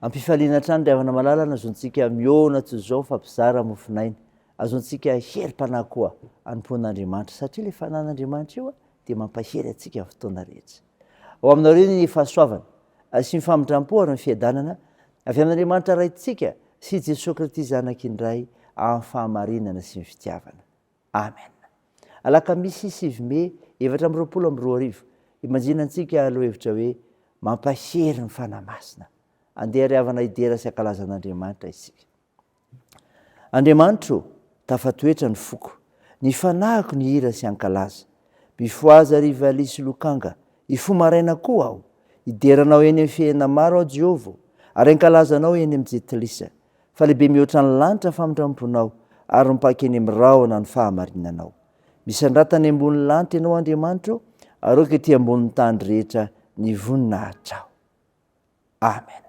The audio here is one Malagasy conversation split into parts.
Ampifaliana hatrany ry havana malala ny azontsika mihaona toy izao mifampizara mofonaina. Azontsika herim-panahy koa anompoan'Andriamanitra satria ilay fanan'Andriamanitra io dia mampahery antsika amin'ny fotoana rehetra. Ao aminao ireny ny fahasoavana sy ny famindram-po ary ny fiadanana avy amin'Andriamanitra Raintsika sy Jesoa Krity Zanak'Indray amin'ny fahamarinana sy ny fitiavana. Amen. Alakamisy sivy mey efatra amby roapolo amby roa arivo, imanjina antsika lohahevitra hoe Mampahery ny Fanahy Masina. Andeha ry havana hidera sy hankalaza an'Andriamanitra isika. Andriamanitro, tafatoetra ny foko, ny fanahiko ny hira sy hankalaza. Mifohaza ry valiha sy lokanga, hifoha maraina koa aho. Hidera Anao eny amin'ny fihena maro aho Jehovah o, ary hankalaza Anao eny amin'ny jetilisa. fa lehibe mihoatra ny lanitra ny famindramponao ary mipaka eny amin'ny rahona ny fahamarinanao. Misandrata any ambony lanitra ianao Andriamanitra ô, ary aoka ety ambonin'ny tany rehetra ny voninahitrao. Amen.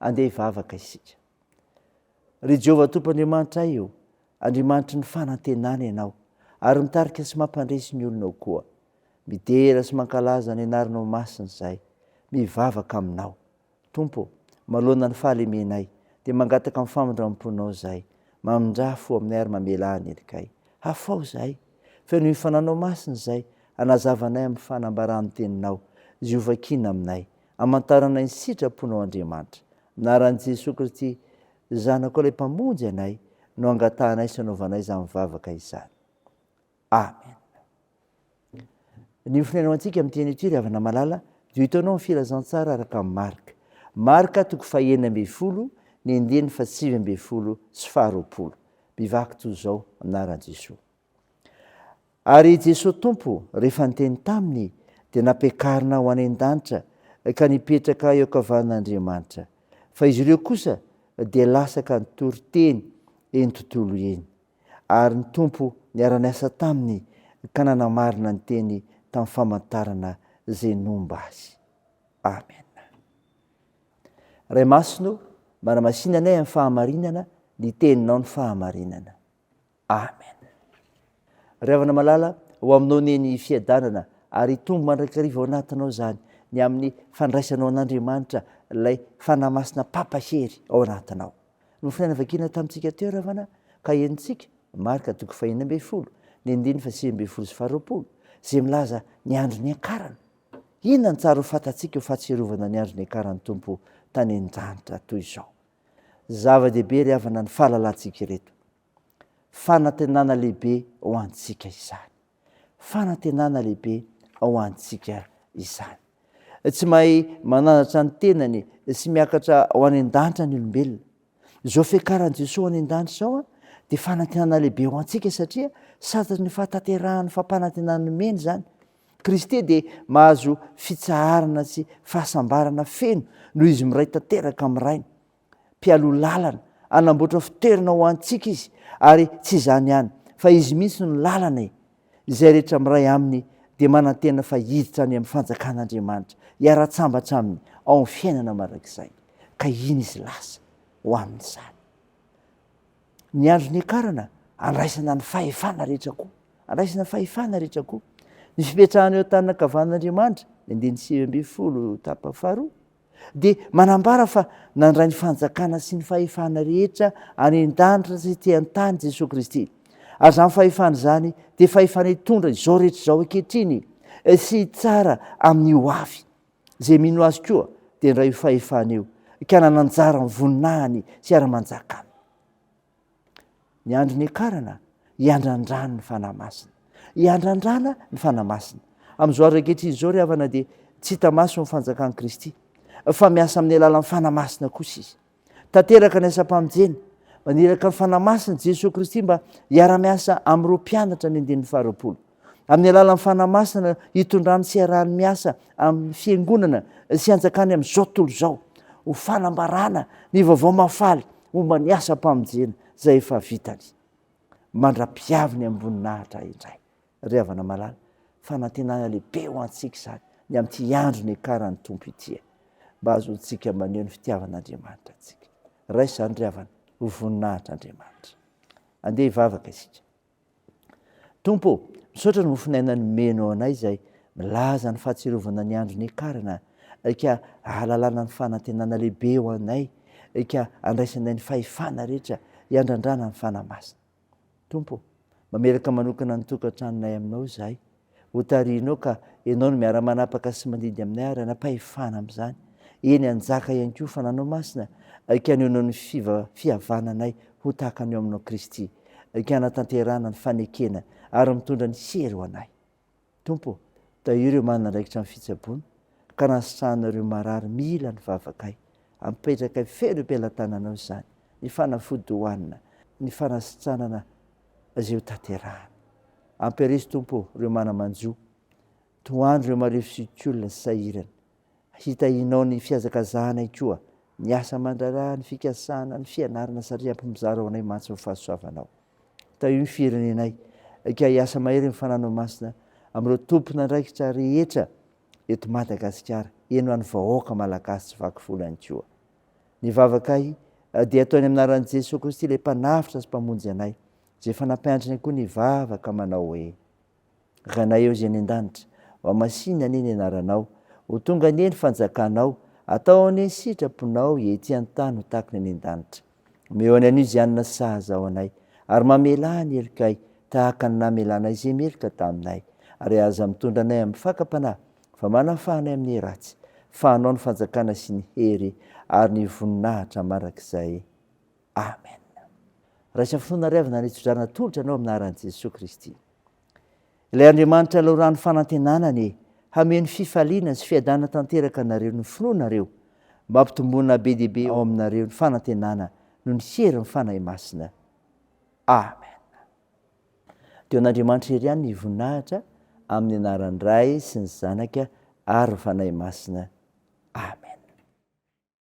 Andeha hivavaka isika. Ry Jehovah Tompo Andriamanitray ô, Andriamanitry ny fanantenana Ianao, ary mitarika sy mampandresy ny olonao koa. Midera sy mankalaza ny Anaranao Masina izahay, mivavaka Aminao. Tompo ô, manoloana ny fahalemenay, dia mangataka ny famindram-ponao izahay. Mamindrà fo aminay ary mamela ahy anelika ahy. Hafao izahay! Feno hifananao masina izay hanazavanay amin'ny fanambaran'ny teninao izay hovakina aminay, hamantaranay ny sitraponao Andriamanitra. Amin'ny anaran'i Jesoa Kristy Zanakao ilay Mpamonjy anay no angatahanay sy anaovanay izany vavaka izany. Amen. Ny fonenao antsika amin'ny teny ity ry havana malala dia hitanao ny filazantsara araka amin'ny Marka. Marka toko fahenina ambin'ny folo ny andininy fahasivy ambin'ny folo sy faharoapolo. Bivaky toy izao, anaran'i Jesoa. Ary i Jesoa Tompo, rehefa niteny taminy, dia nampiakarina ho any an-danitra, ka nipetraka eo ankavanan'Andriamanitra. Fa izy ireo kosa dia lasa ka nitory teny eny tontolo eny. Ary ny Tompo niara-niasa taminy, ka nanamarina ny teny tamin'ny famantarana izay nomba azy. Amen. Ray Masina o, manamasinanay amin'ny fahamarinana ny teninao ny fahamarinana. Amen. Ry havana malala, ho aminao ne ny fiadanana ary hitombo mandrakariva ao anatinao izany ny amin'ny fandraisanao an'Andriamanitra ilay Fanahy Masina Papa hery ao anatinao. Nofonaina vakina tamintsika teo ry havana ka henontsika Marka toko fahenina ambin'ny folo ny andininy fahasivy ambin'ny folo sy faharoapolo izay milaza ny andro niakarana Inona no tsara ho fantatsika ho fahatsiarovana ny andro niakaran'ny Tompo tany an-danitra toy izao? Zava-dehibe ry havana ny fahalalantsika ireto. Fanantenana lehibe ho antsika izany. Fanantenana lehibe ho antsika izany. Tsy mahay mananatra ny tenany sy miakatra ho any an-danitra ny olombelona. Izao fiakaran'i Jesosy any an-danitra izao dia fanantenana lehibe ho antsika satria sady ny fahatanterahan'ny fampanantenana nomeny izany. Kristy dia mahazo fitsaharana sy fahasambarana feno noho izy miray tanteraka amin'ny Rainy. Mpialoha lalana, anamboatra fitoerana ho antsika izy ary tsy izany ihany fa izy mihitsy no lalana e. Izay rehetra miray aminy dia manantena fa hiditra any amin'ny fanjakan'Andriamanitra, hiara-tsambatra aminy ao amin'ny fiainana mandrakizay. Ka iny izy lasa ho amin'izany. Ny andro niakarana, andraisana ny fahefana rehetra koa. Andraisana fahefana rehetra koa. Ny fipetrahana eo an-tànana ankavan'Andriamanitra, ny andininy sivy ambin'ny folo, tapany faharoa, dia manambara fa nandray ny fanjakana sy ny fahefana rehetra any an-danitra sy ety an-tany Jesoa Kristy. Ary izany fahefana izany dia fahefana hitondra izao rehetra izao ankehitriny sy hitsara amin'ny ho avy. Izay mino azy koa dia indray io fahefana io ka nananjara ny voninahiny sy hiara-manjaka aminy. Ny andro niakarana, iandrandrany ny Fanahy Masina. Iandrandrana ny Fanahy Masina. Amin'izao andro ankehitriny izao, ry havana, dia tsy hita maso ny fanjakan'i Kristy, fa miasa amin'ny alalan'ny Fanahy Masina kosa Izy. Tanteraka ny asam-pamonjena. Maniraka ny Fanahy Masina Jesoa Kristy mba hiara-miasa amin'ireo mpianatra ny andininy faharoapolo. amin'ny alalan'ny Fanahy Masina hitondrany sy hiarahany miasa amin'ny fiangonana sy hanjakany amin'izao tontolo izao ho fanambarana ny vaovao mahafaly momba ny asam-pamonjena izay efa vitany mandra-piaviny amin'ny voninahitra indray ry havana malala fanantenana lehibe ho antsika izany ny amin'ity andro niakaran'ny tompo ity e mba azontsika maneho ny fitiavan'andriamanitra antsika raisany ry havana ho voninahitra andriamanitra andeha hivavaka isika Tompo ô, misaotra ny mofonaina nomenao anay izay milaza ny fahatsiarovana ny andro niakarana ka ahalalana ny fanantenana lehibe ho anay ka andraisanay ny fahefana rehetra hiandrandrana ny fanahy masina. Tompo ô, mamelaka manokana ny tokantranonay aminao izahay hotarihinao ka ianao no miara manapaka sy mandidy aminay ary hanam-pahefana amin'izany, eny hanjaka ihany koa fananao masina ka hanehoanao ny fihavananay ho tahaka ny ao aminao Kristy ka hanatanterahana ny fanekena ary mitondra ny hery ho anay. Tompo ô, tahio ireo manana andraikitra amin'ny fitsaboana ka nahasitrahana ireo marary mila ny vavakay, apetrakay feno am-pelatananao izany ny fanafody hohanina, ny fanasitranana izay ho tanterahana. Ampiarizo Tompo ô reo mana manjo, tohano reo marefo sy kolona sy sahirana. Hitahinao ny fihazakazahanay koa, ny asa aman-draharaha, ny fikasana, ny fianarana satria ampimizara ho anay mantsy ny fahasoavanao. Tahio ny firenenay, ka hiasa mahery ny fananao masina amin'ireo tompon'andraikitra rehetra eto Madagasikara, eny ho an'ny vahoaka malagasy tsy vaky volo ihany koa. Ny vavakay dia ataony amin'ny anaran'i Jesoa Kristy ilay Mpanavotra sy Mpamonjy anay, izay efa nampianatra anay koa ny vavaka manao hoe, Ranay ao izay any an-danitra, ho amasìna anie ny anaranao, ho tonga anie ny fanjakanao, atao anie ny sitraponao ety an-tany ho tahaky ny any an-danitra. Omeo anay anio izay hanina sahaza ho anay, ary mamelà ny helokay tahaka ny namelanay izay meloka taminay, ary aza mitondra anay amin'ny fakam-panahy fa manafahanay amin'ny ratsy, fa anao ny fanjakana sy ny hery ary ny voninahitra mandrakizay. Amen. Raisa finoana ary avy nanitsodrana tolotra anao amin'ny anaran'i Jesoa Kristy. Ilay Andriamanitra laoran'ny fanantenanany hameno fifaliana sy fiadanana tanteraka anareo ny finoanareo, mba hampitomboana be dia be ao aminareo ny fanantenana noho ny herin'ny Fanahy Masina. Amen. Dia ho an'Andriamanitra irery ihany ny voninahitra amin'ny anaran'ny Ray sy ny Zanaka ary ny Fanahy Masina. Amen.